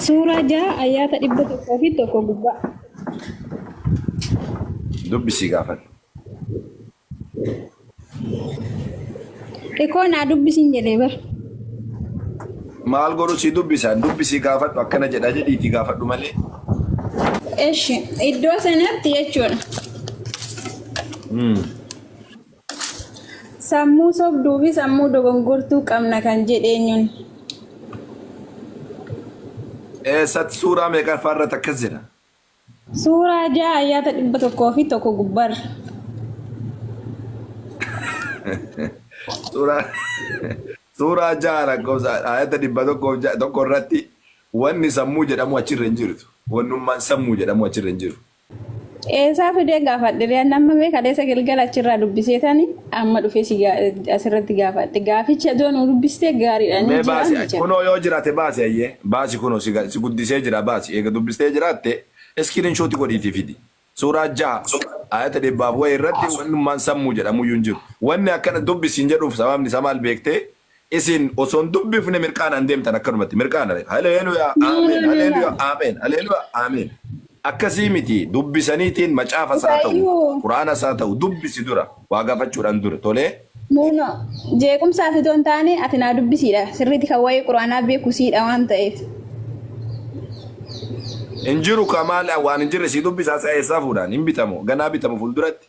Suuraa 6 ayyaata 101 gubbaa. Dubbisii gaafadhu. Ikoo naa dubbisiin jedhee bar. Maal godhu si dubbisaan dubbisii gaafadhu akkana jedha jedhiitii gaafadhu malee. Eshi iddoo sanatti jechuudha. Sammuu sobduu fi sammuu dogongortuu qabna kan jedhe eenyuun? Eessatti suuraa meeqaffaa irratti akkas jedha? Suuraa 6 ayyaata 101 gubbarra. Suuraa suuraa ja'a lakkoofsa ayata dhibba tokkoof ja'a tokko irratti wanni sammuu jedhamu achirra hin jirtu. Wannummaan sammuu jedhamu achirra hin jiru. Eesaa fidee gaafadhe riyaan amma mee kaleessa galgala achirraa dubbiseetani amma dhufee si gaa- asirratti gaafadhe gaaficha doo nu dubbistee gaariidha ni Mee jira baasi ni jira. kunoo yoo jiraate baasi ayyee baasi kunoo si ga- si guddisee jira baasi eega dubbistee jiraatte iskiriin shooti godhiitii fidi suuraa jaha ayata dhibbaaf wayi irratti wannummaan sammuu jedhamuyyuu hin jiru wanni akkana dubbisiin jedhuuf sababni isaa maal beektee Isin osoo hin dubbifne mirqaanaan deemtan akkanumatti mirqaana beeka. Haleeluyaa aameen haleeluyaa aameen haleeluyaa aameen. Akkasii miti dubbisaniitiin macaafas haa ta'u Baay'oo. quraanas haa ta'u dubbisi dura waa gaafachuudhaan dura tolee. No no jeequmsaaf itoo hin taane ati naa dubbisiidha sirriitti kan waa'ee quraanaa beeku siidha waan ta'eef. Hin jiru ka maal waan hin jirre sii dubbisaa sa eessaa fuudhaan hin bitamu ganaa bitamu fuulduratti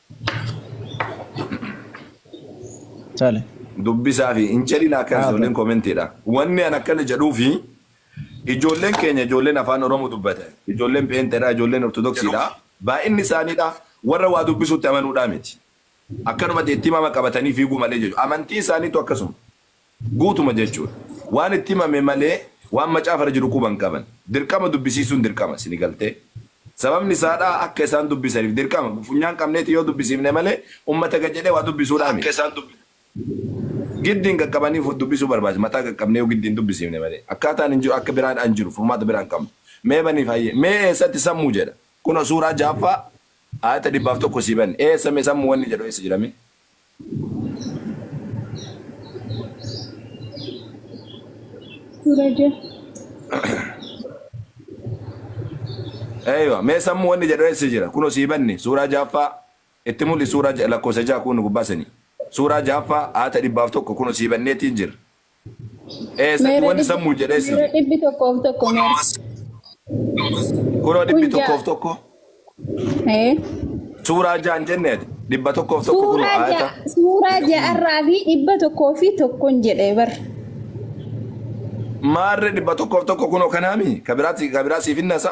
Tole. dubbisaa fi hin jedhin akka Haa ta'u. ijoolleen koomentiidha. Wanni an akkana jedhuu fi ijoolleen keenya ijoolleen afaan Oromoo dubbatan ijoolleen pheenxeedha ijoolleen ortodoksiidha baay'inni isaaniidha warra waa dubbisuutti amanuudhaa miti. Akkanumatti itti himama qabatanii fiiguu malee jechuudha. Amantii isaaniitu akkasuma. Guutuma jechuudha. Waan itti himame malee waan macaafa irra jiru quba hin qaban. Dirqama dubbisiisuun dirqama. Isinii galtee? Sababni isaa dhaa akka isaan dubbisaniif dirqama. Funyaan qabneeti yoo dubbisiifne malee ummata gad jedhee waa dubbisuu dhaa miti. Giddiin qaqqabanii dubbisuu barbaachisa. Mataa qaqqabnee yoo giddiin dubbisiifne malee. Akkaataan hin jiru akka biraa dhaa hin jiru. Furmaata biraa hin qabnu. Mee baniif hayyee. Mee eessatti sammuu jedha? Kunoo suuraa 6ffaa aayata 101 sii banne. Eessa mee sammuu wanni jedhu eessa jira mee? Eywa mee sammu wanni jedhu eessa jira kuno sii banne suuraa jaaffaa itti mul'i suuraa lakkoofsa ja'a kuno gubbaa sanii suuraa jaaffaa aata dhibbaaf tokko kuno sii banneetiin jira Eessatti Meera wanni dhibbi sammuu jedhee si meera dhibbi tokkoof tokko meera. kunoo Kun dhibbi tokkoof ja'a. tokko Ee. suuraa jaan jenneeti dhibba tokkoof tokko kunoo Suuraa ayata ja'a suuraa ja'arraa fi dhibba tokkoo fi tokkon jedhee bar. maarre dhibba tokkoof tokko kunoo kanaami kabiraati kabiraa siif hin nasa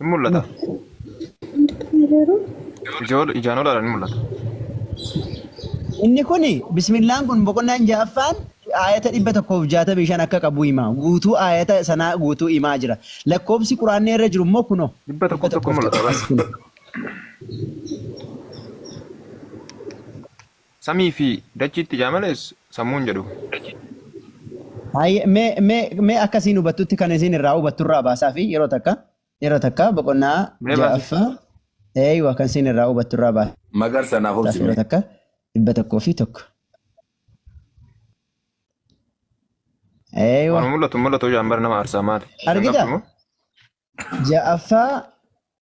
Hin mul'ata. Hundi kana garuu Ijoo ijaan olaadhaan hin mul'ata. Inni kun bismillaan kun boqonnaan ja'affaan aayata dhibba tokkoof jaatamii shan akka qabu hima. Guutuu aayata sanaa guutuu himaa jira. Lakkoobsi quraanni irra jiru immoo kunoo. Dhibba tokkoof tokko mul'ata bas. Samii fi dachiitti jaa malees sammuun jedhu. Hayyee mee mee mee akka isiin hubattutti kan isiin irraa hubattu irraa baasaa fi yeroo takka yeroo takka boqonnaa Mee baasi. ja'affaa eeywa kan isiin irraa hubattu irraa baasaa Magarsa naaf fi yeroo obsime. takka dhibba tokkoo fi tokko. Eeywa Waan mul'atu mul'atu jaan bara nama aarsaa maali. Argita? Argita? Ja'affaa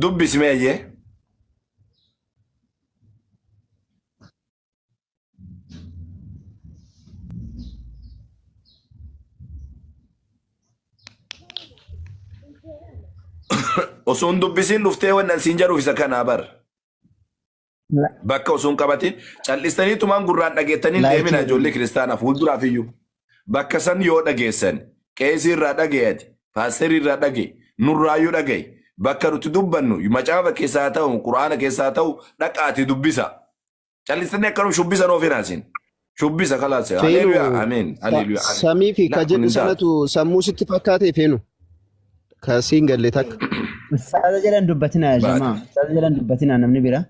Dubbisi mee ayyee. Osoo hin dubbisiin dhuftee wannan siin jedhuuf isa kanaa bar. La- Bakka osoo hin qabatin cal'istanii tumaan gurraan dhageettanii hin deemina Laayikii ijoollee kiristaanaa fuulduraaf iyyuu. Bakka san yoo dhageessan qeesii irraa dhagayati paasterii irraa dhagaye nurraayyuu dhagaye bakka nuti dubbannu macaafa keessaa haa ta'u quraana keessaa haa ta'u dhaqaati dubbisa. Cal'istanii akkanum shubbisa nuuf hin haasin. Shubbisa kalaas. Feenu Haleeluyaa. Ameen. sa- Haleeluyaa. Ameen. samii fi ka Laa kun jedhu hin taatu. sanatu sammuu sitti fakkaate feenu ka siin galle takka. Ustaaza jedhan dubbatinaa Baate. jamaa. Ustaaza jedhan dubbatinaa namni bira.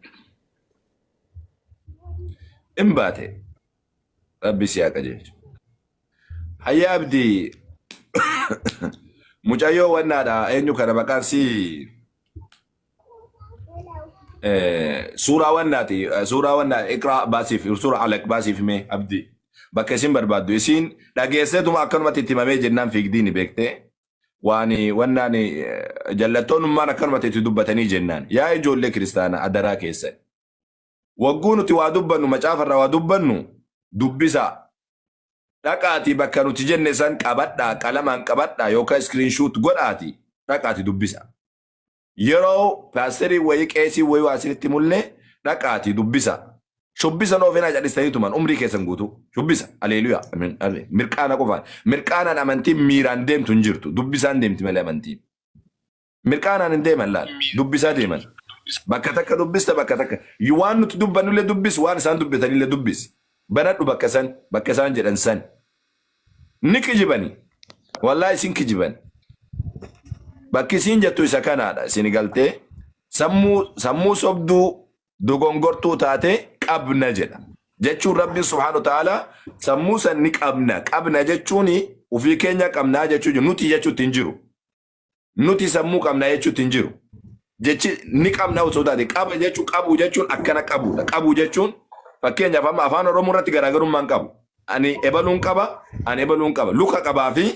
Hin baate. Rabbi si haa qajeelchu. Hayyaa abdii. Mucayyoo wannaadha. Eenyu kana maqaan si suuraa wannaati suuraa wannaa iqraa baasiif suuraa alaq baasiif mee abdii bakka isin barbaaddu isiin dhageesseetuma akkanumatti itti himamee jennaan fiigdiini beektee waan wannaan jallattoonummaan akkanumatti itti dubbatanii jennaan yaa ijoollee kiristaanaa adaraa keessan wagguu nuti waa dubbannu macaafarraa waa dubbannu dubbisaa dhaqaatii bakka nuti jenne san qabadhaa qalamaan qabadhaa yookaan iskiriinshuut godhaatii dhaqaatii dubbisaa. yeroo paasterii wayii qeesii wayii waa isinitti mullee dhaqaatii dubbisa. Shubbisa noo fenaa cadhistanii tuman umrii keessan guutuu. Shubbisa. Aleeluyaa. Amen. Amen. Mirqaana qofaan. Mirqaanaan amantiin miiraan deemtu hin jirtu. Dubbisaan deemti malee amantiin. Mirqaanaan hin deeman laal. Dubbisaa deeman. Bakka takka dubbista bakka takka. Yu- Waan nuti dubbannullee dubbis waan isaan dubbatanillee dubbis. Banadhu bakka san bakka isaan jedhan san. Ni kijibani. Wallahi isin kijibani. Bakki isin jettu isa kanaadha. Isin galtee sammuu sammuu sobduu dogongortuu taate qabna jedha. Jechuun Rabbiin subhaanahu wa ta'ala sammuu san ni qabna. Qabna jechuun ofii keenya qabnaa jechuu jiru. Nuti jechuutti hin jiru. nuti sammuu qabna jechuutti hin jiru. Jechi ni qabna osoo taate qaba jechuun qabu jechuun akkana qabuudha. Qabu jechuun fakkeenyaaf amma afaan Oromoo irratti garaagarummaan qabu. Ani ebaluun qaba, ani ebaluun qaba. Luka qabaa fi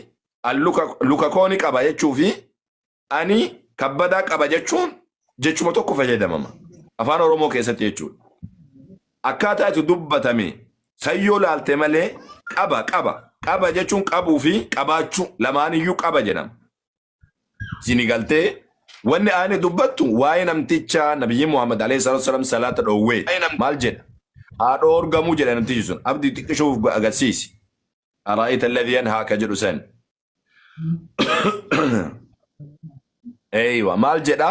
an luka, luka koo ni qaba jechuu fi ani kabbadaa qaba jechuun jechuma tokko fayyadamama. Afaan Oromoo keessatti jechuudha. Akkaataa itti dubbatame san yoo laalte malee qaba qaba qaba jechuun qabuu fi qabaachuu lamaaniyyuu qaba jedhama. Sini galtee wanni aayni dubbattu waa'ee namticha nabiyyi Muhammad alayhi salaatu wassalaam salaata dhoowwee maal jedha? Haa dhoorgamuu jedha namtichi sun abdi xiqqishuuf agarsiisi. Araa'ayta alladhii yanhaa ka jedhu san. Eeywa maal jedha?